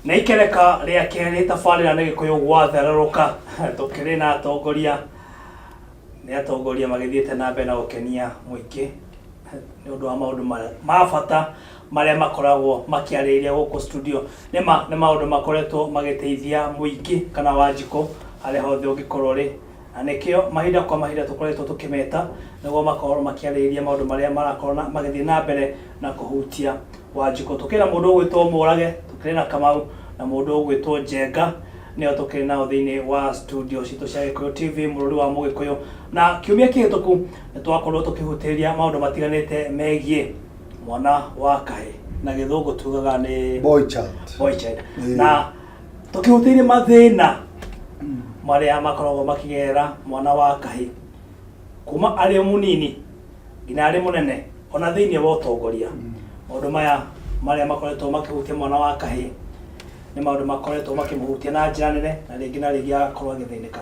na ikereka rĩa kerĩ tabarĩra nĩ gĩkũyũ gwathererũka tũkĩrĩ na atongoria nĩ atongoria magĩthiĩte na mbere na gũkenia mũingĩ nĩ ũndũ wa maũndũ ma- ma bata marĩa makoragwo makĩarĩrĩria gũkũ studio nĩ ma nĩ maũndũ makoretwo magĩteithia mũingĩ kana wanjikũ harĩa hothe ũngĩkorwo ũrĩ Na nĩkĩo mahinda kwa mahinda tũkoretwo tũkĩmeta nĩguo makorũo makĩarĩrĩria maũndũ marĩa marakorũo magĩthiĩ na mbere na kũhutia Wanjikũ. Tũkĩrĩ na mũndũ ũgwĩtwo Mũrage, tũkĩrĩ na Kamau, na mũndũ ũgwĩtwo Njenga, nĩo tũkĩrĩ nao thĩinĩ wa studio citũ cia Gĩkũyũ TV, Mũrũri wa Mũgĩkũyũ. Na kiumia kĩhĩtũku nĩ twakorirũo tũkĩhutĩrĩria maũndũ matiganĩte megiĩ mwana wa kahĩĩ. Na Gĩthũngũ tugaga nĩ. Boy child. Boy child. Na. tũkĩhutĩire mathĩna marĩa makoragwo makĩgerera mwana wa kahĩ kuma arĩ o mũnini nginya arĩ mũnene ona thĩinĩ wa ũtongoria maũndũ maya marĩa makoretwo makĩhutia mwana wa kahĩ nĩ maũndũ makoretwo makĩmũhutia na njĩra nene na rĩngĩ na rĩngĩ agakorwo agĩthĩnĩka.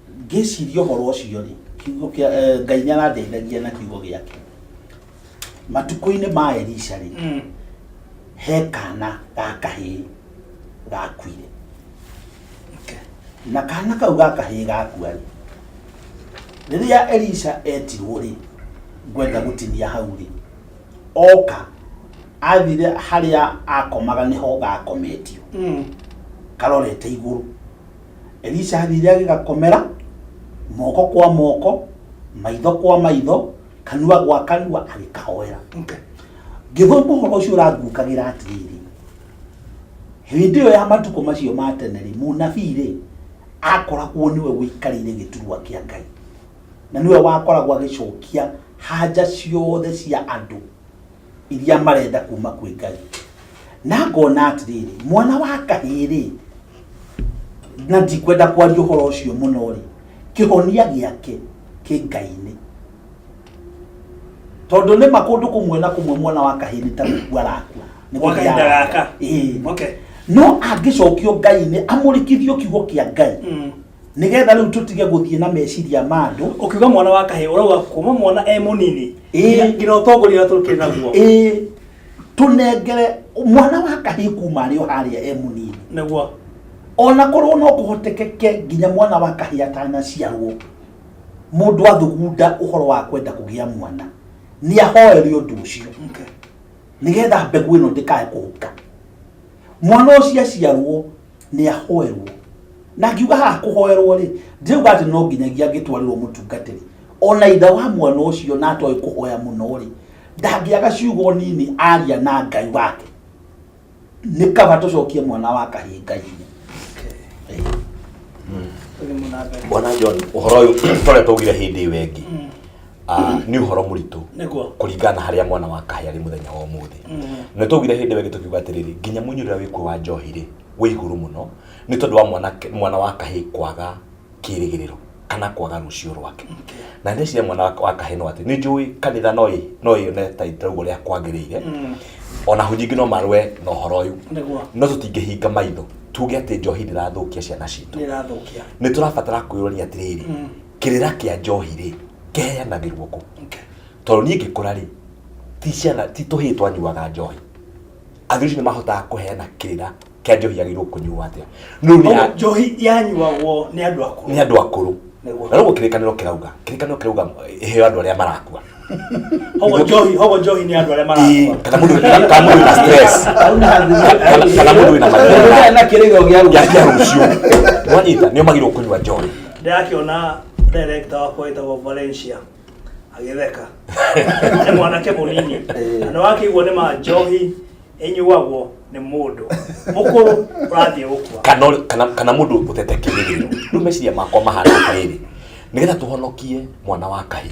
Ngĩciria ũhoro ũcio rĩ, kiugo kĩa eh, Ngai nĩ arandeithagia na kiugo gĩake. Matukũ-inĩ ma Elisha rĩ, Mm. he kana ga kahĩĩ gakuire Okay. na kana kau ga kahĩĩ gakua rĩ rĩrĩa elisha etirwo rĩ ngwenda gũtinia hau rĩ oka athire harĩa akomaga nĩho gakometio Mm. karorete igũrũ Elisha athire agĩgakomera moko kwa moko maitho kwa maitho kanua gwa kanua agĩkahoera Okay. ngĩthoma ũhoro ũcio ũrangukagĩra atĩrĩrĩ hĩndĩ ĩyo ya matukũ macio ma tene rĩ mũnabii rĩ akoragwo nĩwe wĩikarĩire gĩturwa kĩa ngai na nĩwe wakoragwo agĩcokia hanja ciothe cia andũ iria marenda kuma kwĩ ngai na ngona atĩrĩrĩ mwana wa kahĩĩ-rĩ na ndikwenda kwaria ũhoro ũcio mũno-rĩ kĩhonia gĩake kĩ ngai-inĩ tondũ nĩ ma kũndũ kũmwe na kũmwe mwana wa kahĩĩ nĩ ta gũkua arakua Nĩ Gwa kahinda gũthiaga gaka. Ĩĩ. Okay. no angĩcokio ngai-inĩ amũrĩkithio kiugo kĩa ngai Mm. nigetha riu tutige guthie na meciria ma andu ukiuga mwana wa kahe urauga kuma mwana e munini Ĩĩ. ngira utongoria na turukire naguo ĩĩ tunengere mwana wa kahi kuma arĩ o haria e munini naguo ona korwo no kuhotekeke nginya mwana wa kahi atanaciarwo mundu athugunda uhoro wa kwenda kugia mwana ni ahoere undu ucio Okay. nigetha mbegu ino ndikae kuhuka mwana ũcio aciarwo nĩ ahoerwo na ngiuga haha kũhoerwo rĩ ndirauga atĩ no nginyagia ngĩtwarĩrwo mũtungatĩri ona itha wa mwana ũcio na atoĩ kũhoya mũno rĩ ndangĩaga ciugo nini aria na ngai wake nĩ kaba tũcokie mwana wa kahĩ ngai-inĩ bwana john ũhoro ũyũ tũretwo ugire hĩndĩ ĩyo ĩngĩ ah, nĩ ũhoro mũritũ Nĩguo. kũringana na harĩa mwana wa kahĩ arĩ mũthenya wa ũmũthĩ na twaugire hĩndĩ ĩyo ĩngĩ tũkiuga atĩrĩrĩ nginya mũnyurĩra wĩkuo wa njohi rĩ wĩ igũrũ mũno nĩ tondũ wa mwana, mwana wa kahĩ kwaga kĩrĩgĩrĩro kana kwaga rũciũ rwake na ndeciria mwana wa- wa kahĩ no atĩ nĩ njũĩ kanitha no ĩ- no yone ta itaugo rĩa kwagĩrĩire ona hau nyingĩ no marũe na ũhoro ũyũ Nĩguo. no tũtingĩhinga maitho tuge atĩ njohi ndĩrathũkia ciana citũ Nĩrathũkia. nä tå rabatara kwä rania atä rä rä kĩrĩra kĩa njohi rĩ kĩheanagĩrwo kũ tondũ niĩ ngĩkũra rĩ ti ciana ti tũhĩĩ twanyuaga njohi athuri acio nĩ mahotaga kũheana kĩrĩra kĩa njohi yagĩrĩirwo kũnyuo atĩa no nĩ ya- njohi yanyuagwo nĩ andũ akũrũ nĩ andå akå rå na rä u kĩrä kanä ro kä rauga kä rä kanä ro kä rauga heo andå arä a marakua Hogo njohi, hogo njohi ni andu aria marakua. kana mundu kana kana mundu na stress Kana- kana mundu na mathina na kĩrĩgo gĩa ya ruga ya rucio wanyita nio magirwo kunywa njohi Ndakiona director wakwa witagwo Valencia agitheka. Nĩ mwanake mũnini. Na wakĩiguo nĩ ma njohi ĩnyuagwo nĩ mũndũ mũkũrũ ũrathiĩ gũkua. kana ũrĩ- kana kana mundu utete kirigiro riu meciria makwa mahana atiriri nigetha tuhonokie mwana wa kahi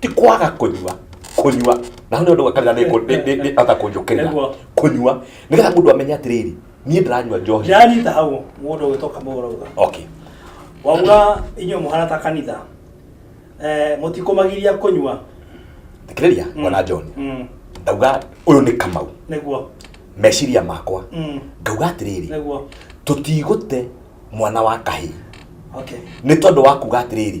ti kwaga kũnyua kũnyua na nĩ ũndũ kanitha nĩ kũ- nĩ- nĩ- nĩ ata kũnjũkĩrĩra Nĩguo. kũnyua nĩgetha mũndũ amenye atĩrĩrĩ niĩ ndĩranyua njohi Ndĩranyita hau mũndũ ũgĩtoka mũgũrũga. okay Wauga inyuĩ mũhana ta kanitha. Eh, mũtikũmagĩria kũnyua. thikĩrĩria Mm. mwana John Mm. ndauga ũyũ nĩ kamau Nĩguo. meciria makwa Mm. ngauga atĩrĩrĩ Nĩguo. tũtigũte mwana wa kahĩĩ Okay. nĩ tondũ wa kuga atĩrĩrĩ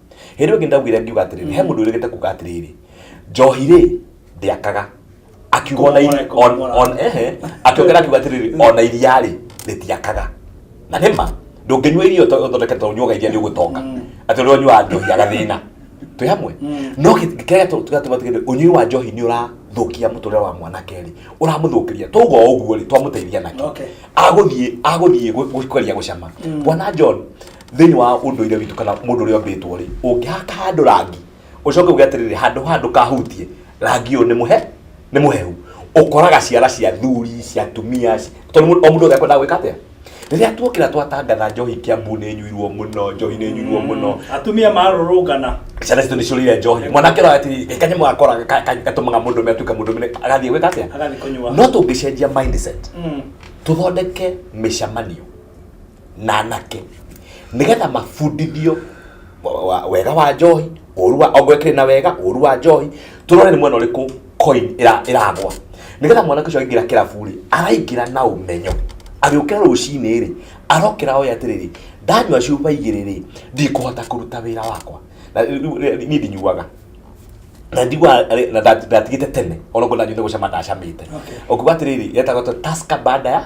hĩndĩ ĩngĩ ndaugire ngiuga atĩrĩrĩ he mũndũ ũrĩgĩte kuga atĩrĩrĩ njohi rĩ ndĩakaga akiuga ona iri- Kũmoreka, on- kũmoreka. on- ehe, akiongera akiuga atĩrĩrĩ ona iria rĩ rĩtiakaga na nĩ ma ndũngĩnyua irio to- ũthondeke to ũnyuaga iria nĩ ũgũtonga atĩ ũrĩa ũnyuaga njohi agathĩna twĩ hamwe no kĩrĩa tũgatuma tũgende ũnyui wa njohi nĩ ũrathũkia mũtũrĩre wa mwanake rĩ ũramũthũkĩria twauga o ũguo rĩ twamũteithia nake Okay. agũthiĩ agũthiĩ gũ- gũkeria gũcama bwana john thĩinĩ wa ũndũire witũ kana mũndũ ũrĩa ombĩtwo rĩ ũngĩhaka handũ rangi ũcoke uge atĩrĩrĩ handũ handũ kahutie rangi ũyũ nĩ mũhe nĩ mũhehu ũkoraga ciara cia thuri cia tumia ci- tondũ mũndũ- o mũndũ wothe akwendaga gwĩka atĩa rĩrĩa tuokĩra twatangatha njohi kiambu nĩ nyuirwo mũno njohi nĩ nyuirwo mũno atumia marũrũngana ciana citũ nĩ ciũrĩire njohi mwanake ũrĩa ati kanyamũ gakora ka- ka- gatũmaga mũndũ ũmwe atuĩke mũndũ mũnene agathiĩ gwĩka atĩa agathiĩ kũnyua no tũngĩcenjia mindset Mm. tũthondeke mĩcemanio na anake nigetha mabundithio wa- wa- wega wa njohi ũru wa ongwekire na wega ũru wa njohi tũrore nĩ mwena ũrĩkũ coin ĩra- ĩragwa nigetha mwanake ũcio aingĩra kĩrabu-rĩ araingĩra na ũmenyo agĩũkĩra rũcinĩ-rĩ arokĩra oĩ atĩrĩrĩ ndanyua cuba igĩrĩ-rĩ ndikũhota kũruta wĩra wakwa na rĩu- rĩu- rĩu- niĩ ndinyuaga na ndigua na nda- ndatigĩte tene ona ngona nyune gũcama ndacamĩte ũkuga atĩrĩrĩ yetagwo taska baada ya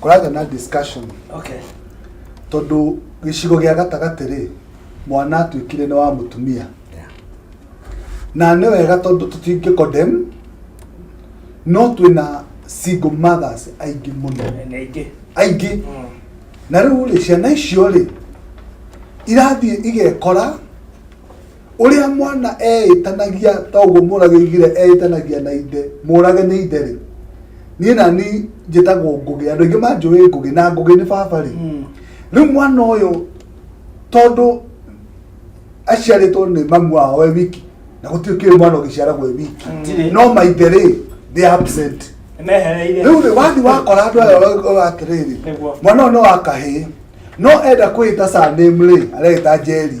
kũragĩa na discussion okay. tondũ gĩcigo gĩa gatagatĩ rĩ mwana atuĩkire nĩ wa mũtumia na nĩ wega tondũ tũtingĩ condemn no twĩna single mothers aingĩ mũno aingĩ mm. na rĩu rĩ ciana icio rĩ irathiĩ igekora ũrĩa mwana eĩtanagia ta ũguo mũrage igire eĩtanagia na ithe mũrage nĩ ithe rĩ niĩ na ni njĩtagwo ngũgĩ andũ aingĩ manjũĩ ngũgĩ na ngũgĩ nĩ baba rĩ hmm. rĩu mwana ũyũ tondũ aciarĩtwo nĩ mamu wao we wiki na gũtirĩ kĩrĩ mwana ũgĩciaragwo e wiki hmm. no maithe rĩ they absent rĩu rĩ wathi wakora andũ aya atĩrĩrĩ mwana ũyũ nĩ wa kahĩĩ no enda kwĩta sanĩmrĩ areta njeri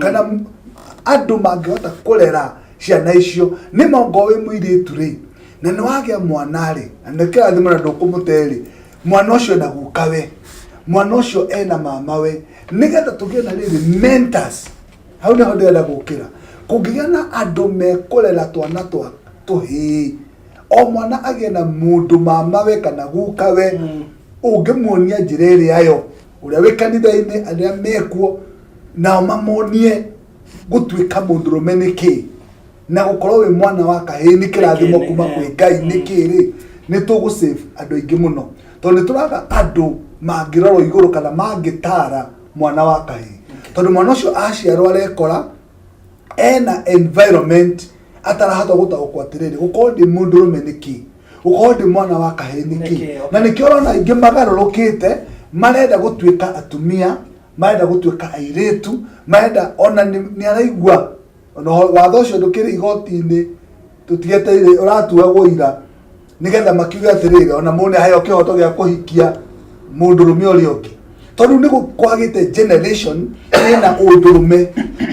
kana m- andũ mangĩhota kũrera ciana icio nĩ mongo wĩ mũirĩtu rĩ na nĩ wagĩa mwana rĩ na nĩ kĩrathimo na ndũkũmũte rĩ mwana ũcio na guka we mwana ũcio ena mama we nĩgetha tũgĩe na rĩrĩ mentors hau nĩho ndĩrenda gũkĩra kũngĩgĩa na andũ mekũrera twana twa tũhĩĩ o mwana agĩe na mũndũ mama we kana guka we ũngĩmuonia njĩra ĩrĩa yo ũrĩa wĩ kanitha-inĩ arĩa mekuo nao mamonie gũtuĩka mũndũrũme nĩ kĩĩ na gũkorwo wĩ mwana wa kahĩĩ nĩ kĩrathimo kuma kwĩ ngai nĩ kĩĩ rĩ nĩ tũgũ save andũ aingĩ mũno tondũ nĩ tũraga andũ mangĩrorwo igũrũ kana mangĩtara mwana wa kahĩĩ tondũ mwana ũcio aciarwo arekora ena environment atarahota gũtaũkwo atĩrĩrĩ gũkorwo ndĩ mũndũrũme nĩ kĩĩ gũkorwo ndĩ mwana wa kahĩĩ nĩ kĩĩ na nĩkĩo ũrona aingĩ magarũrũkĩte marenda gũtuĩka atumia marenda gũtuĩka airĩtu marenda ona nĩ nĩ araigua ona ũhoro- watho ũcio ndũkĩrĩ igoti-inĩ tũtigeteire ũratuagwo ira nĩgetha makiuge atĩrĩrĩ ona mũndũ nĩaheo kĩhoto gĩa kũhikia mũndũrũme ũrĩa ũngĩ tondũ nĩ gũ- kwagĩte generation ĩna ũndũrũme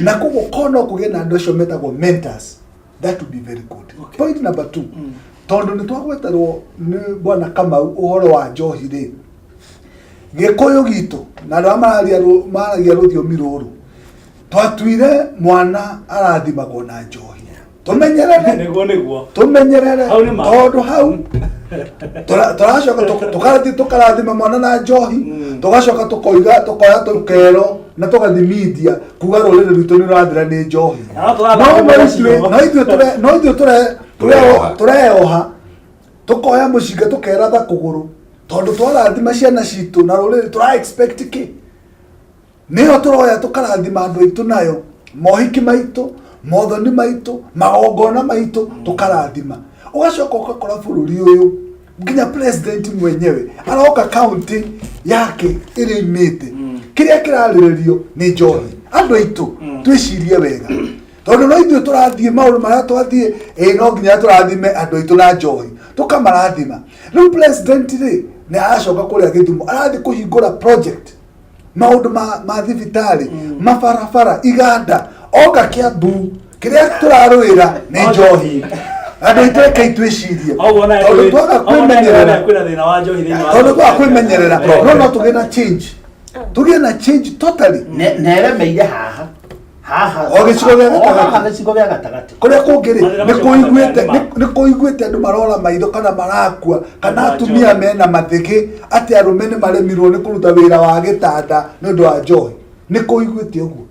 na koguo korwo no kũgĩe na andũ acio metagwo mentors that would be very good Okay. point number two Mm. tondå nä twagweterwo nä bwana kamau å horo wa njohi rä gä kå yå gitå na andå arä a mararia rå- maragia rå thiomi rå rå twatuire mwana arathimagwo na njohi tå menyerere niguo niguo tå menyerere Hau nĩ ma. tondå hau tũra- tũracoka tũ- tũkarathi- tũkarathima mwana na njohi Mm. tũgacoka tũkoiga tũkoya tũkero na tũgathimithia kuga rũrĩrĩ rwitũ nĩ rũrathira nĩ njohi Na no tũrathaka no mũthenya ithuĩ ũcio. no ithuĩ tũre- no ithuĩ tũre- Tũreoha. tũreoha- tũreoha tũkoya mũcinga tũkeratha kũgũrũ tondũ twarathima ciana citũ na rũrĩrĩ tũra expect kĩ nĩyo tũroya tũkarathima andũ aitũ nayo mohiki maitũ mothoni maitũ magongona maitũ tũkarathima ũgacoka ũgakora bũrũri ũyũ nginya president mwenyewe aroka county yake ĩrĩa imĩte kĩrĩa kĩrarĩrĩrio nĩ njohi andũ aitũ twĩcirie wega tondũ no ithuĩ tũrathiĩ maũndũ marĩa twathiĩ ĩ no nginya tũrathime andũ aitũ na njohi tũkamarathima rĩu president rĩ nĩ aracoka kũrĩa gĩthumo arathiĩ kũhingũra project maundu ma ma thibitari mabarabara iganda oka kiambu kiria turarwira ni njohi andu aitå reke itwicirie Oguo naye tondu twaga oguo naye kwimenyerera kwĩna thĩna wa njohi thĩinĩ wa tondu twaga kwimenyerera no no tugä na change tugä na change totally ne- neremeire haha haha O gĩcigo gĩa gatagatĩ. O haha gĩcigo gĩa gatagatĩ kũrĩa kũngĩ rĩ Mathĩna nĩ macio kũiguĩte mathĩna nĩ- nĩ kũiguĩte andũ marora maitho kana marakua kana Andũ a atumia njohi. mena mathĩgĩ atĩ arũme nĩ maremirwo nĩ kũruta wĩra wa gĩtanda nĩ ũndũ wa njohi nĩ kũiguĩte ũguo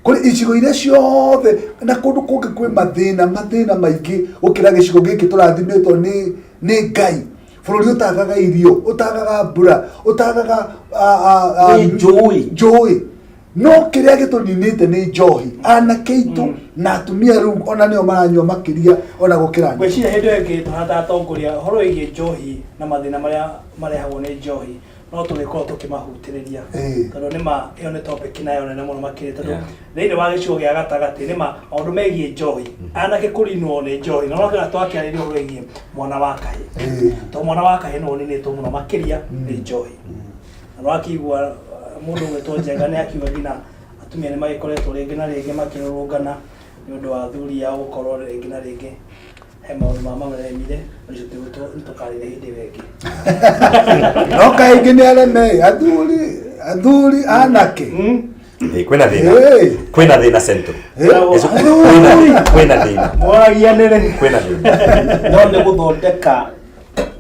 kũrĩ icigo iria ciothe na kũndũ kũngĩ kwĩ mathĩna mathĩna maingĩ gũkĩra gĩcigo gĩkĩ tũrathimĩtwo nĩ nĩ ngai bũrũri ũtagaga irio ũtagaga mbura ũtagaga ah, ah, ah, Nĩ njũĩ. njũĩ no kä rä a gä tå ninä te nä njohi anake itå na atumia rä u ona nä o maranyua makä ria ona gå kä ra ngwĩciria hĩndĩ ĩyo ĩngĩ tũhana ta atongoria ũhoro wĩgiĩ njohi na mathĩna marĩa marehagwo nĩ njohi no tũgĩkorwo tũkĩmahutĩrĩria Ĩĩ. tondũ nĩ ma ĩyo nĩ topic nayo nene mũno makĩria tondũ Yeah. thĩinĩ wa gĩcigo gĩa gatagatĩ nĩ ma maũndũ megiĩ njohi anake kũrinwo nĩ njohi na ũrakĩra twakĩarĩria ũhoro wĩgiĩ mwana wa kahĩ Ĩĩ. tondũ mwana wa kahĩ nĩ ũninĩtwo mũno makĩria nĩ njohi no akĩigua uh, mũndũ gwĩtwo njega nĩ akiuga nginya atumia nĩ magĩkoretwo rĩngĩ na rĩngĩ makĩrũrũngana nĩ ũndũ wa athuri ao gũkorwo rĩngĩ na rĩngĩ he maũndũ ma mameremire ũcio tũkarĩre hĩndĩ ĩyo ĩngĩ no kaingĩ nĩ areme athuri athuri anake Hmm? Eh, kwĩna thĩna Hey. kwĩna thĩna central Eh, Ezo- kwĩna- kwĩna thĩna moragia nĩrĩ kwĩna thĩna no nĩ gũthondeka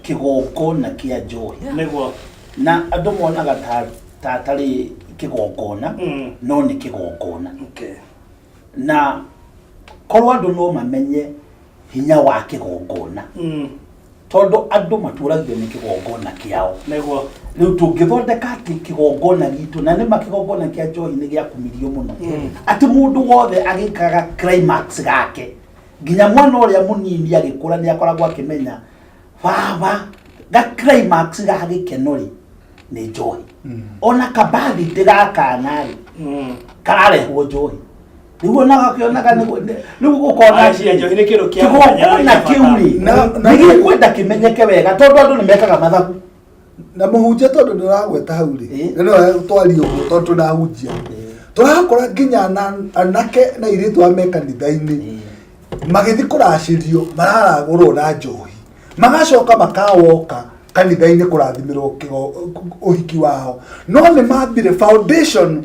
kĩgongona kĩa njohi nĩguo na andũ monaga ta ta atarĩ kĩgongona Mm. no nĩ kĩgongona okay na korwo andũ no mamenye hinya wa kĩgongona mm tondũ andũ matũragio nĩ kĩgongona kĩao nĩguo rĩu tũngĩthondeka atĩ kĩgongona gitũ na nĩma kĩgongona kĩa njohi nĩ gĩakumirio mũno Mm. atĩ mũndũ wothe agĩkaga climax gake nginya mwana ũrĩa mũnini agĩkũra nĩ akoragwo akĩmenya baba ga climax ga gĩkeno rĩ nĩ njohi mm. ona kabathi ndĩgakana rĩ mm. kararehwo njohi rĩu ona gakĩonaga rĩu ũkona kĩgongona kĩu rĩ nĩ gĩkwenda kĩmenyeke wega tondũ andũ nĩ mekaga mathabu na mũhunjia tondũ ndĩragweta hau rĩ Eh. na no twaria ũguo tondũ tũrahunjia Eh. tũrakora nginya ana- anake na airĩtu a me kanitha-inĩ Eh. magĩthiĩ kũracĩrio mararagũrwo na njohi magacoka makawoka kanitha-inĩ kũrathimĩrwo kĩgo- ũhiki wao no nĩ mambire foundation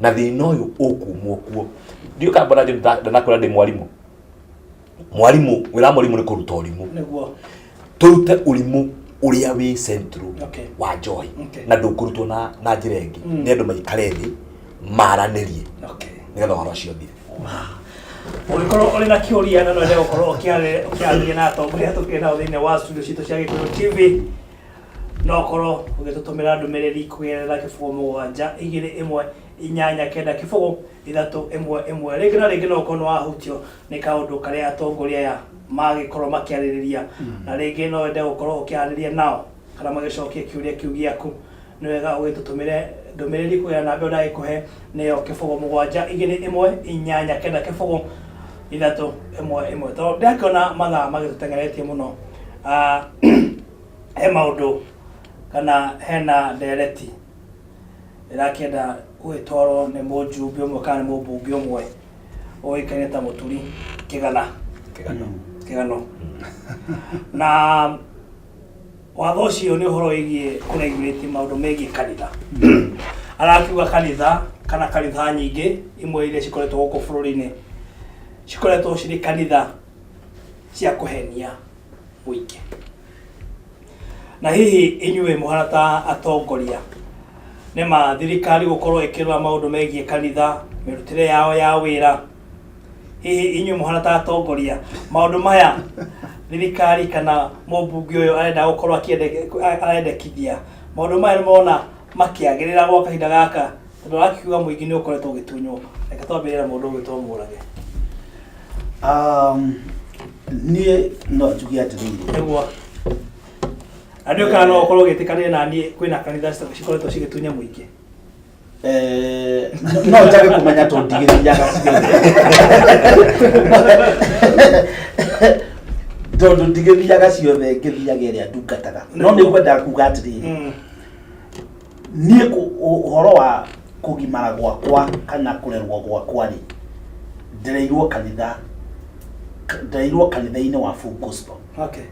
na thina uyu ukumwo kuo ndiu kamba na ndanakwira ndi mwarimu mwarimu wira mwarimu ni kuruta urimu nĩguo turute urimu uria wi central Okay. wa joy Okay. na ndukurutwo na na njira ingi ni andu maikare thi maranirie okay nigetha horo cio thire ũngĩkorwo ũrĩ na kĩũria na no ende gũkorwo ũkĩarĩ- ũkĩarĩria na atongoria tũkĩrĩ nao thĩinĩ wa studio citũ cia gĩkũyũ tv no ũkorwo ũgĩtũtũmĩra ndũmĩrĩri kũgerera kĩbũgũ mũgwanja igĩrĩ ĩmwe inyanya kenda kĩbũgũ ithatũ ĩmwe ĩmwe rĩngĩ na rĩngĩ no ũkorwo nĩ wahutio nĩ kaũndũ karĩa atongoria aya magĩkorwo makĩarĩrĩria na rĩngĩ no wende gũkorwo ũkĩarĩrĩria nao kana magĩcokie kĩũria kĩu gĩaku nĩ wega ũgĩtũtũmĩre ndũmĩrĩri kũgerera namba ĩyo ndagĩkũhe nĩyo kĩbũgũ mũgwanja igĩrĩ ĩmwe inyanya kenda kĩbũgũ ithatũ ĩmwe ĩmwe tondũ ndĩrakĩona mathaa magĩtũteng'eretie mũno Ah, he maũndũ kana hena ndereti ĩrakĩenda gũgĩtwarwo nĩ mũjumbe ũmwe kana nĩ mũmbunge ũmwe ũĩkaine ta mũturi kĩgana Kĩgano. kĩgano na watho ũcio nĩ ũhoro wĩgiĩ kũregurĩti maũndũ megiĩ kanitha arakiuga kanitha kana kanitha nyingĩ imwe iria cikoretwo gũkũ bũrũri-inĩ cikoretwo cirĩ kanitha cia kũhenia mũingĩ. Na hihi inyuĩ mũhana ta atongoria nĩ ma thirikari gũkorwo ĩkĩrora maũndũ megiĩ kanitha, mĩrutĩre yao ya wĩra, hihi inyuĩ mũhana ta atongoria maũndũ maya thirikari kana mũmbunge ũyũ arenda gũkorwo akĩende- arendekithia maũndũ maya nĩ mona makĩagĩrĩra gwa kahinda gaka Tondũ wakiuga mũingĩ nĩ ũkoretwo ũgĩtunywo, reke twambĩrĩre na mũndũ ũgwĩtwo Mũrage. Um, niĩ no njuge atĩrĩrĩ Nĩguo. Na nĩ ũkana no ũkorwo ũgĩtĩkanĩria na niĩ kwĩna kanitha cita- cikoretwo cigĩtunya mũingĩ. eh, no njage kũmenya tondũ ndigĩthiaga ciothe tondũ ndigĩthiaga ciothe ngĩthiaga ĩrĩa ndungataga no nĩ ngwendaga kuga atĩrĩrĩ Mm. niä å horo wa kå gimara gwakwa kana kå rerwo gwakwa rä ndereirwo kanitha ka- ndereirwo kanitha-inä wa Full Gospel Okay.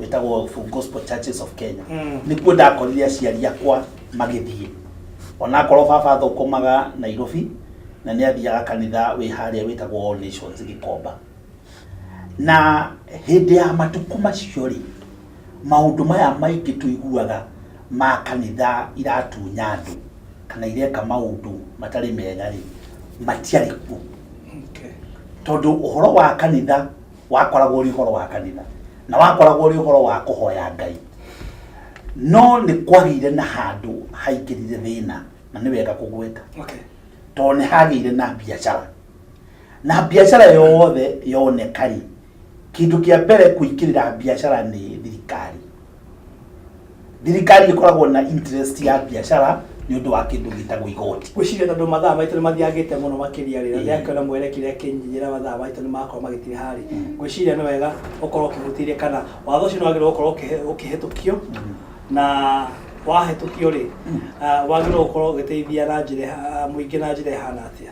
wĩtagwo Full Gospel Churches of Kenya Mm. nĩkuo ndakorire aciari akwa magĩthiĩ onakorwo baba athũkũmaga Nairobi na nĩ athiaga kanitha wĩ harĩa wĩtagwo All Nations Gĩkomba na hĩndĩ ya matukũ macio rĩ maũndũ maya maingĩ tũiguaga ma kanitha iratunya andũ kana ireka maũndũ matarĩ mega rĩ matiarĩ kuo tondũ ũhoro wa kanitha wakoragwo ũrĩ ũhoro wa kanitha na wakoragwo ũrĩ ũhoro wa kũhoya ngai no nĩ kwagĩire na handũ haingĩrire thĩna na nĩ wega kũgweta tondũ nĩ hagĩire na biacara na biacara yothe yoneka rĩ Kĩndũ kĩa mbere kũingĩrĩra biacara nĩ thirikari. Thirikari ĩkoragwo na interest ya biacara nĩ ũndũ wa kĩndũ gĩtagwo igoti. Ngwĩciria tondũ mathaa maitũ nĩ mathiagĩte mũno makĩria rĩ, na Ĩĩ. ndĩrakĩona mwene kĩrĩa kĩnyinyĩra mathaa maitũ nĩ marakorwo magĩtĩha rĩ, ngwĩciria nĩ wega ũkorwo ũkĩhutĩria kana watho ũcio nĩ wagĩrĩirwo gũkorwo ũkĩhe- ũkĩhetũkio na wahetũkio rĩ, ah, wagĩrĩirwo gũkorwo ũgĩteithia na njĩra ĩha- mũingĩ na njĩra ĩhana atĩa?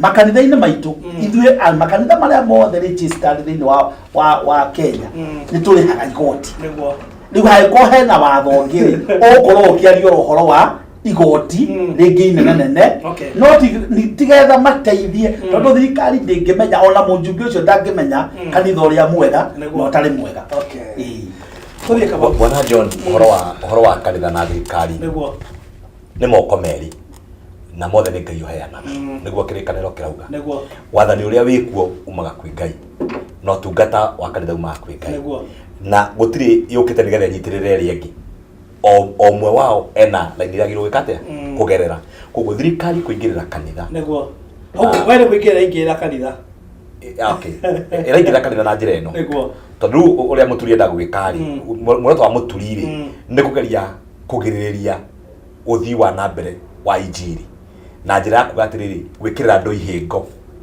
makanitha-inĩ maitũ ithuĩ a- makanitha marĩa mothe registered thĩinĩ wa, wa, wa kenya nĩ tũrĩhaga igoti nĩguo rĩu hangĩkorwo hena watho ũngĩ ũgũkorwo ũkĩaria ũhoro wa igoti rĩngĩ inene nene Okay. no ti- ni- tigetha mateithie tondũ thirikari ndĩngĩmenya ona mũnjumbe ũcio ndangĩmenya kanitha ũrĩa mwega na Nĩguo. ũtarĩ mwega Okay. Ĩĩ. tũthiĩ kaba bwana john ũhoro wa ũhoro wa kanitha na thirikari nĩguo nĩ moko merĩ na mothe nĩ ngai ũheanaga nĩguo kĩrĩkanĩro kĩrauga Nĩguo. wathani ũrĩa wĩkuo umaga kwĩ ngai na ũtungata wa kanitha umaga kwĩ ngai Nĩguo. na gũtirĩ yũkĩte nĩgetha ĩnyitĩrĩre ĩrĩa ĩngĩ o o ũmwe wao ena laini ĩrĩa agĩrĩirwo gwĩka atĩa Mm. kũgerera koguo thirikari kũingĩrĩra kanitha Nĩguo. Ah. Okay, wewe kuingĩra ingĩra kanitha. Eh, okay. ĩraingĩra kanitha na njĩra ĩno Nĩguo. tondũ rĩu ũrĩa mũturi enda gwĩka rĩ Mm. muoroto wa mũturi rĩ Mm. nĩ kũgeria kũgirĩrĩria ũthii wa na mbere wa injiri na njĩra ya kuga atĩrĩrĩ gwĩkĩrĩra andũ ihĩngo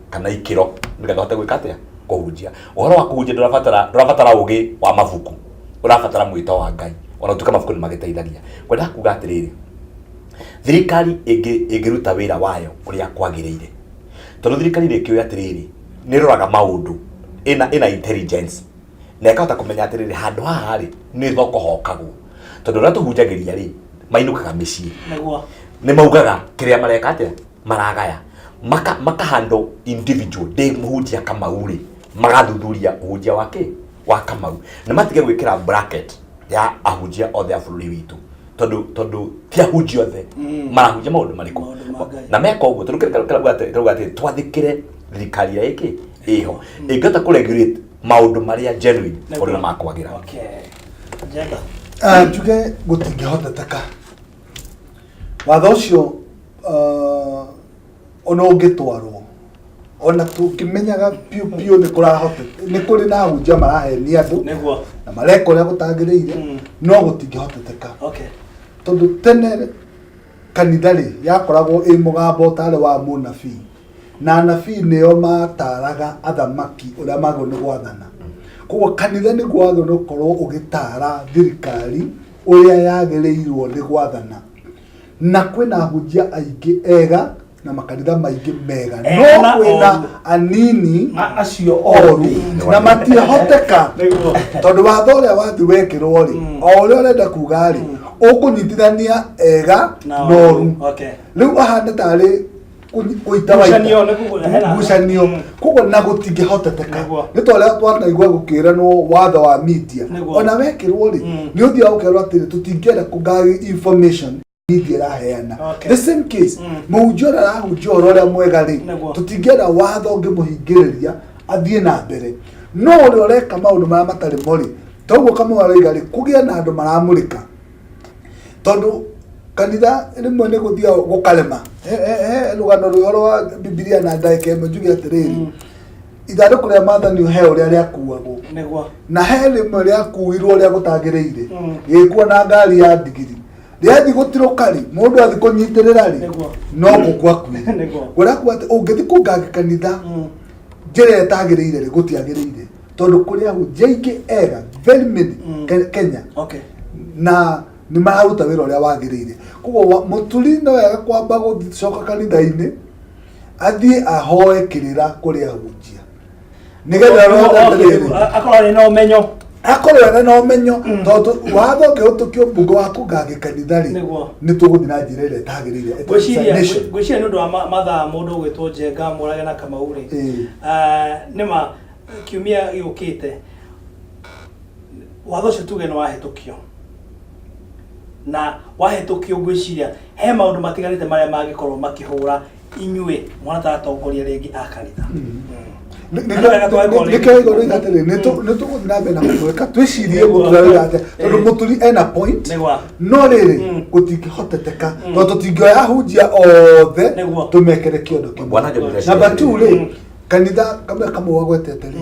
kana ikĩro nĩgetha ahote gwĩka atĩa kũhunjia ũhoro wa kũhunjia ndũrabatara ndũrabatara ũgĩ wa mabuku ũrabatara mwĩto wa ngai ona tuka mabuku nĩ magĩteithagia kwenda kuga atĩrĩrĩ thirikari ĩngĩ- ĩngĩruta wĩra wayo ũrĩa kwagĩrĩire tondũ thirikari rĩkĩũĩ atĩrĩrĩ nĩ ĩroraga maũndũ ĩna ĩna intelligence na ĩkahota kũmenya atĩrĩrĩ handũ haha rĩ nĩ ho kũhokagwo tondũ ũrĩa tũhunjagĩria rĩ mainũkaga mĩciĩ Nĩguo. nĩ maugaga kĩrĩa mareka atĩa maragaya maka makahandwo individual ndĩ mũhunjia kamau rĩ magathuthuria ũhunjia wa kĩ wa kamau na matige gwĩkĩra bracket ya ahunjia othe a bũrũri witũ tondũ tondũ ti ahunjia othe Mm. marahunjia maũndũ marĩkũ Maũndũ ma Ngai. na meka ũguo tondũ kĩrĩa kĩrauga atĩ- kĩrauga atĩ twathĩkĩre thirikari ĩrĩa ĩkĩ ĩho ĩngĩhota kũregulate maundu maria genuine tondu ni makwagira Ah, njuge gũtingĩhoteteka watho ũcio ah, ona ũngĩtwarwo ona tũngĩmenyaga biũ biũ nĩ kũrahote nĩ kũrĩ na hunjia marahenia andũ nĩguo na mareka ũrĩa gũtagĩrĩire Mm. no gũtingĩhoteteka okay tondũ tene Kanitha-rĩ, yakoragwo ĩ mũgambo ũtaarĩ wa mũnabii, na anabii nĩo mataaraga athamaki ũrĩa magĩrĩirwo nĩ gwathana. Koguo kanitha nĩguo wagĩrĩirwo nĩ gũkorwo ũgĩtaara thirikari ũrĩa yagĩrĩirwo nĩ gwathana. Na kwĩna ahunjia aingĩ ega. na makanitha maingĩ mega Eh, no na kwĩna oru. anini A- acio oru oru na matiahoteka Nĩguo. tondũ watho ũrĩa wathi wekĩrwo rĩ Mm. o ũrĩa ũrenda kuga rĩ Mm. ũkũnyitithania ega Na na oru. oru Okay. rĩu ahana tarĩ kũ- kũita waita. Ngucanio, nĩ kugu- hena- ngucanio Mm. koguo na gũtingĩhoteteka Nĩguo. nĩ twarĩa twanaigua gũkĩranwo watho wa media Nĩguo. ona wekĩrwo rĩ Mm. nĩ ũthiaga ũkerwo atĩrĩ tũtingĩenda kũgari information bithi araheana Okay. the same case Mm. mũhunjia ũrĩa arahunjia ũhoro ũrĩa mwega rĩ Nĩguo. tũtingĩenda watho ũngĩmũhingĩrĩria athiĩ na mbere no ũrĩa ũreka maũndũ marĩa matarĩ mo rĩ toguo kamwe araiga rĩ kũgĩa na andũ maramũrĩka tondũ kanitha rĩmwe nĩ gũthiaga gũkarema He- he- he rũgano rũhoro wa bibilia na ndagĩka ĩmwe njuge atĩrĩrĩ Mm. ithandũkũ rĩa mathani he ũrĩa rĩakuagwo nĩguo na he rĩmwe rĩakuirwo rĩa gũtagĩrĩire Mm. gĩkuo na ngari ya ndigiri rĩathi gũtirũka rĩ mũndũ athi kũnyitĩrĩra rĩ Nĩguo. no gũkua kuĩ Nĩguo. ũrakua atĩ ũngĩthi kũnganga kanitha Mm. njĩra ĩtagĩrĩire rĩ gũtiagĩrĩire tondũ kũrĩ ahunjia aingĩ ega very many Mm. Ke- kenya okay na nĩ mararuta wĩra ũrĩa wagĩrĩire koguo wa- mũturi no wega kwamba gũcoka kanitha-inĩ athiĩ ahoe kĩrĩra kũrĩ ahunjia nä getha roho atheru akorwo arä na å menyo akorwo ene na ũmenyo tondũ watho ũngĩhũtũkio mbunge wa kũngangĩ kanitha rĩ Nĩguo. nĩ tũgũthiĩ na njĩra ĩrĩa ĩtagĩrĩire ngwĩciria Nation. ngwĩciria nĩ ũndũ wa ma- mathaa mũndũ ũgwĩtwo njenga mũrage na kamau rĩ Ĩĩ. Ah, nĩ ma kiumia gĩũkĩte watho ũcio tuge nĩ wahĩtũkio na wahĩtũkio ngwĩciria he maũndũ matiganĩte marĩa mangĩkorwo makĩhũra inyuĩ mũrataratongoria rĩngĩ a kanitha nĩkĩo igoro iga atĩrĩ nĩ tũgũthiĩ na mbere na kũmwĩka twĩcirie gũtũrarĩra atĩa tondũ mũturi ena point no rĩrĩ gũtingĩhoteteka tondũ tũtingĩoya hunjia othe tũmekere kĩondo kĩmwe namba two rĩ kanitha kamwe kamwe wagwetete rĩ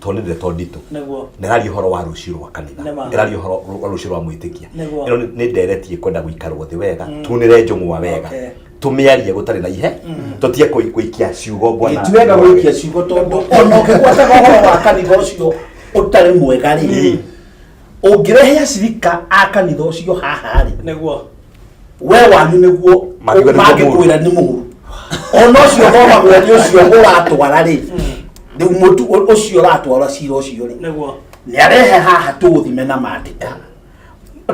to nä ndeto nditå Nĩguo. nä raria å horo wa rå cio rwa kanitha Nĩ ma. nä raria å horo wa rå cio rwa mwä tä kia Nĩguo. ä no nä nderetie kwenda gå ikarwo thä wega tunä re njång'wa wega Okay. tå mä arie gå tarä na ihe tå tie kå ikia ciugo bwana gĩtuega gũikia ciugo tondũ ona ũkĩgwataga ũhoro wa kanitha ũcio ũtarĩ mwega rĩ ũngĩrehe acirika a kanitha ũcio haha rĩ nĩguo we wanyu nĩguo Mangiuga nĩguo mangĩkwĩra nĩ mũru ona ũcio thomagwo nĩ ũcio ũratwara rĩ rĩu mũtu ũ- ũcio ũratwara cira ũcio rĩ nĩguo nĩ arehe haha tũũthime na mandĩka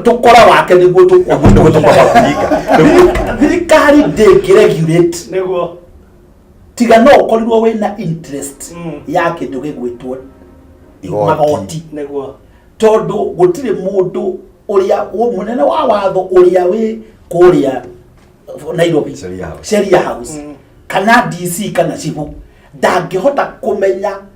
tũkora wake nĩguo tũkwa Nĩguo tũkwa kũhinga. thirikari ndĩngĩ regulate nĩguo tiga no ũkorirwo wĩ na interest Mm. ya kĩndũ gĩgwĩtwo Igoti. magoti nĩguo tondũ gũtirĩ mũndũ ũrĩa wũ- mũnene wa watho ũrĩa wĩ kũrĩa nairobi Sheria House. sheria house Mm. kana dc kana cibu ndangĩhota kũmenya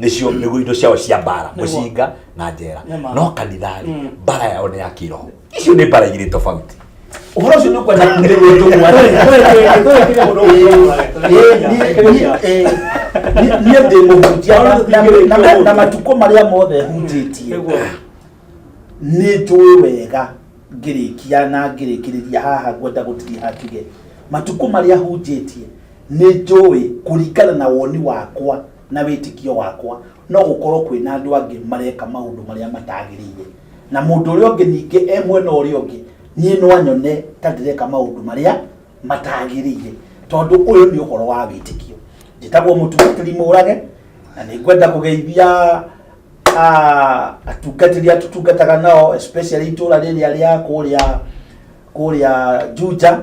nĩcio nĩguo indo ciao cia mbara Nĩguo. mũcinga na njera Nĩma. no kanitharĩ Mm. mbara yao nĩ ya kĩroho icio nĩ mbara igĩrĩ tofauti ũhoro ũcio nĩ ũkwenda kũmĩrĩria tũmwana niĩ ndĩ mũhunjia na- na- na- na matukũ marĩa mothe hunjĩtie nĩ njũĩ wega ngĩrĩkia na ngĩrĩkĩrĩria haha ngwenda gũtiria hatige matukũ marĩa hunjĩtie nĩ njũĩ kũringana na woni wakwa na wĩtĩkio wakwa, no gũkorũo kwĩ na andũ angĩ mareka maũndũ marĩa matagĩrĩire, na mũndũ ũrĩa ũngĩ ningĩ e mwena ũrĩa ũngĩ, niĩ no anyone ta ndĩreka maũndũ marĩa matagĩrĩire, tondũ ũyũ nĩ ũhoro wa wĩtĩkio. Njĩtagwo mũtungatĩri mũrage, na nĩ ngwenda kũgeithia ah, atungatĩri arĩa tũtungataga nao especially itũũra rĩrĩa rĩa kũrĩa kũrĩa Juja.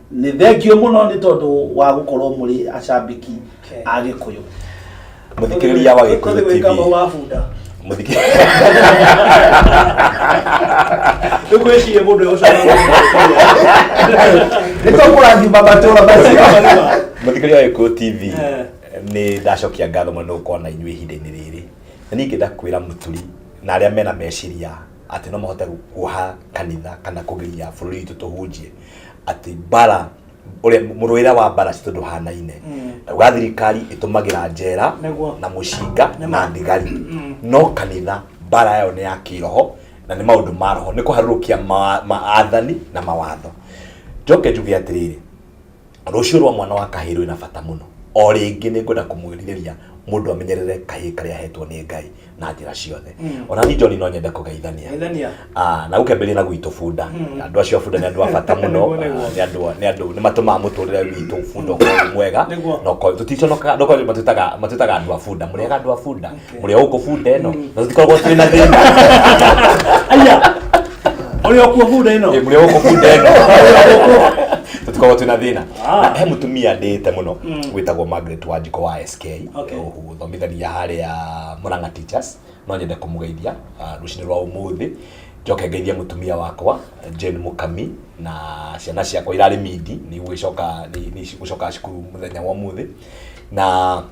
nä thengio må no nä tondå wa gå korwo må rä acambiki a gä kå yå må thikä rä ria wa gä kå yå Nikuishie mundu yo sana. Nitokurathima matura macio. Muthikiri wa Eko TV. Eh. Ni ndacokia ngatho mũno kwa na inyuĩ ihinda-inĩ rĩrĩ. Na niĩ ingĩenda kwĩra mũturi na arĩa mena meciria atĩ no mahote kuoha kanitha kana kũgiria bũrũri witũ tũhunjie atĩ mbara ũrĩa mũrũĩra wa mbara citũ ndũhanaine uga thirikari ĩtũmagĩra njera Nĩguo. na mũcinga na thigari no kanitha mbara yayo nĩ ya kĩroho na nĩ maũndũ ma roho nĩ kũharũrũkia ma- maathani na mawatho njoke njuge atĩrĩrĩ rũciũ rwa mwana wa kahĩĩ rwĩna bata mũno o rĩngĩ nĩ ngwenda kũmwĩrirĩria mũndũ amenyerere kahĩĩ karĩa ahetwo nĩ ngai na njĩra ciothe Mm. ona ni njoni no nyende kũgeithania Geithania. Ah, na gũkĩambĩrĩria na gwitũ bunda Mm. andũ acio a bunda nĩ andũ a bata mũno Nĩguo, nĩguo. Ah, nĩ andũ nĩ andũ nĩ matũmaga mũtũrĩre witũ bunda ũkorwo wĩ mwega Nĩguo. na ũkorwo tũticonokaga ndokorwo matwĩtaga matwĩtaga andũ a bunda mũrĩaga andũ a bunda Ũrĩa ũkũbunda ĩno. Na tũtikoragwo twĩ na thĩna. Aya. Ũrĩa ũkũbunda ĩno. Eh, Ũrĩa ũkũbunda ĩno. Tũtikoragwo twĩ na thĩna. Ah. Na he mũtumia ndĩte mũno Mm. wĩtagwo Margaret Wanjiko wa SK. Okay. Ũthomithania harĩa Murang'a Teachers. No nyende kũmũgeithia ah, rũcinĩ rwa ũmũthĩ. Njoke ngeithie mũtumia wakwa Jane Mũkami na ciana ciakwa irarĩ mindi nĩ igũgĩcoka nĩ nĩ igũcoka cukuru mũthenya wa ũmũthĩ na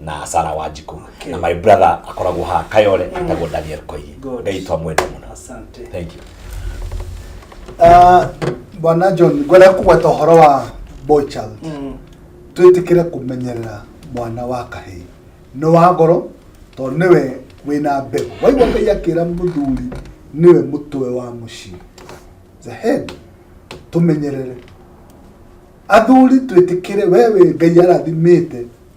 na sara wa njikũ Okay. na my brother akoragwo ha kayore etagwo daniel koigi Good. ngai twamwenda mũno asante thank you Ah, bwana john ngwenda kũgweta ũhoro wa boy child Mm. twĩtĩkĩre kũmenyerera mwana wa kahĩĩ nĩ wa ngoro tondũ nĩwe wĩna mbegũ waigua ngai akĩra mũthuri nĩwe mũtwe wa mũciĩ the head tũmenyerere athuri twĩtĩkĩre we wĩ ngai arathimĩte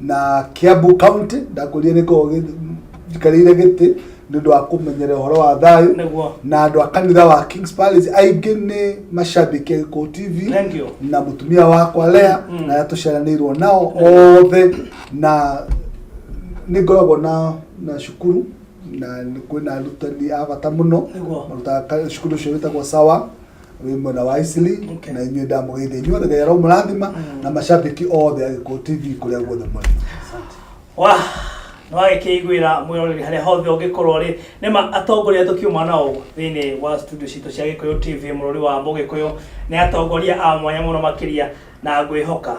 na Kiambu County ndakũrire nĩ korwo njikarĩire gĩtĩ nĩ ũndũ wa kũmenyera ũhoro wa thayũ Nĩguo. na andũ a kanitha wa Kings Palace aingĩ nĩ macambĩki a Gĩkũyũ TV Thank you. na mũtumia wakwa Lea Mm. na arĩa tũceranĩirwo nao othe na nĩ ngoragwo na na cukuru na nĩ kwĩna arutani a bata mũno Nĩguo. marutaga ka- cukuru ũcio wĩtagwo sawa wĩ mwena wa Isili Okay. na inyuĩ ndamũgeithia inyuothe Ngai aramũrathima na mashabiki othe agĩkũ TV kũrĩa guothe mũrĩ asante wa nĩwagĩkĩiguĩra mwĩroreri harĩa hothe ũngĩkorwo rĩ nĩma atongoria tũkiuma nao thĩinĩ wa studio citũ cia gĩkũyũ tv mũrũri wa mũgĩkũyũ nĩ atongoria a mwanya mũno makĩria na ngwĩhoka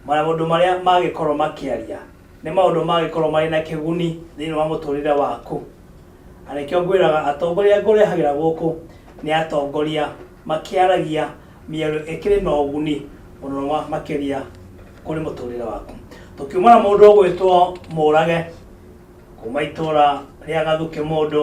maũndũ marĩa magĩkorwo makĩaria Nĩ maũndũ mangĩkorũo marĩ na kĩguni thĩinĩ wa mũtũũrĩre waku? Na nĩkĩo ngwĩraga atongoria ngũrehagĩra gũkũ nĩ atongoria makĩaragia mĩario ĩkĩrĩ na ũguni mũno makĩria kũrĩ mũtũũrĩre waku. Tũkiuma na mũndũ ũgwĩtwo Mũrage kuuma itũũra rĩa Gathukĩ Mũndũ,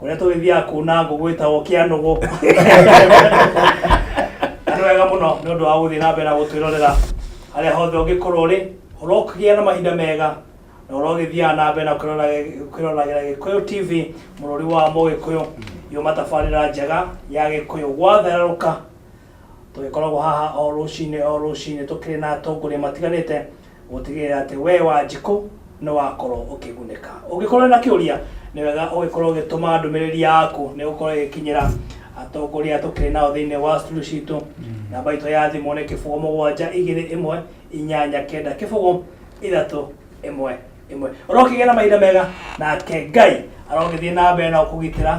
kũrĩa tũgĩthiaga kuuna ngũ gwĩtagwo kĩa nũgũ nĩ wega mũno nĩ ũndũ wa gũthiĩ na mbere na gũtwĩrorera harĩa hothe ũngĩkorwo ũrĩ ũrokĩgĩa na mahinda mega na ũrogĩthiaga na mbere na kwĩrorage- kwĩroragĩra gĩkũyũ tv mũrũri wa mũgĩkũyũ yuma tabarĩra njega ya gĩkũyũ gwatherũka tũgĩkoragwo haha o rũcinĩ o rũcinĩ tũkĩrĩ na atongoria matiganĩte Gũtigĩrĩra atĩ wee Wanjikũ nĩ wakorũo ũkĩgunĩka. Ũngĩkorũo na kĩũria, nĩ wega ũgĩkorũo ũgĩtũma ndũmĩrĩri yaku nĩ gũkorũo ĩgĩkinyĩra atongoria tũkĩrĩ nao thĩinĩ wa studio citũ. Namba itũ ya thimũ nĩ kĩbũgũ mũgwanja igĩrĩ ĩmwe inyanya kenda kĩbũgũ ithatũ ĩmwe ĩmwe. Ũrokĩgĩa na mahinda mega nake Ngai arogĩthiĩ na mbere na gũkũgitĩra